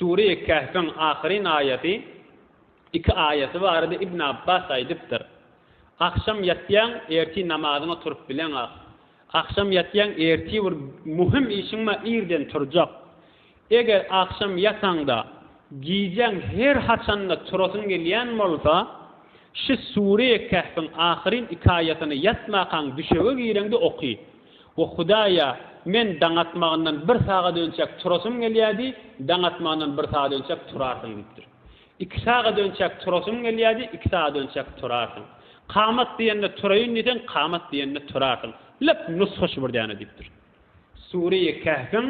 Sure-i Kehfiň ahyryn aýaty, iki aýaty barada Ibn Abbas aýdypdyr, Agşam ýatýaň, ertir namazyňa turup bileňok. Agşam ýatýaň, ertir bir möhüm işiň bar, irden turjak. Eger agşam ýataňda, gijäň her haçanda turasyň gelýän bolsa, şu Sure-i Kehfiň ahyryn iki aýatyny ýatmakaň düşege gireňde oky. O Hudaýa, Men daň atmagyndan bir sagat önçäk turasym gelýärdi, daň atmagyndan bir sagat önçäk turarsyň diýipdir. Iki sagat önçäk turasym gelýärdi, iki sagat önçäk turarsyň. Kamat diýende turaýyn diýseň, kamat diýende turarsyň. Lep nusga şu bir däne diýipdir. Sureýi Kehfiň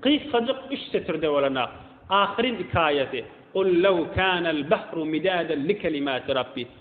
gysgajyk üç setirde bolanok ahyryn iki aýaty, Qul lew kanel bahru midaden likelimatirabbi,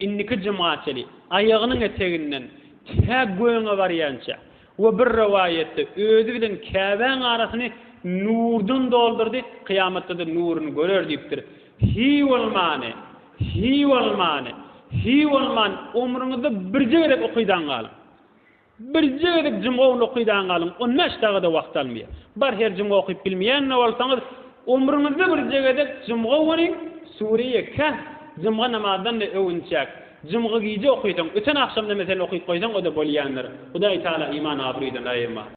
Indiki juma çenli aýagynyň eteginden tä gögüňe barýança we bir rowaýatda özi bilen Käbäň arasyny nurdan doldurdy, kyýamatda-da nuruny görer diýipdir. Hiý bolmany! Hiý bolmany! Hiý bolmany! Omrüňizde birje gezek okydaň galyň. Birje gezek jumga uly okydaň galyň, on bäş dagy-da wagt almaýar. Bar her jumga okyp bilmeýän-de bolsaňyz, ömrüňizde birje gezek jumga göriň, Sure-i Kehf jumga namazdan-da öwünçäk. Jumga gije okysaň, öten agşam-da meselen okyp goýsaň, o-da bolýandyr. Hudaý Tagala iman abraýdan aýyrma.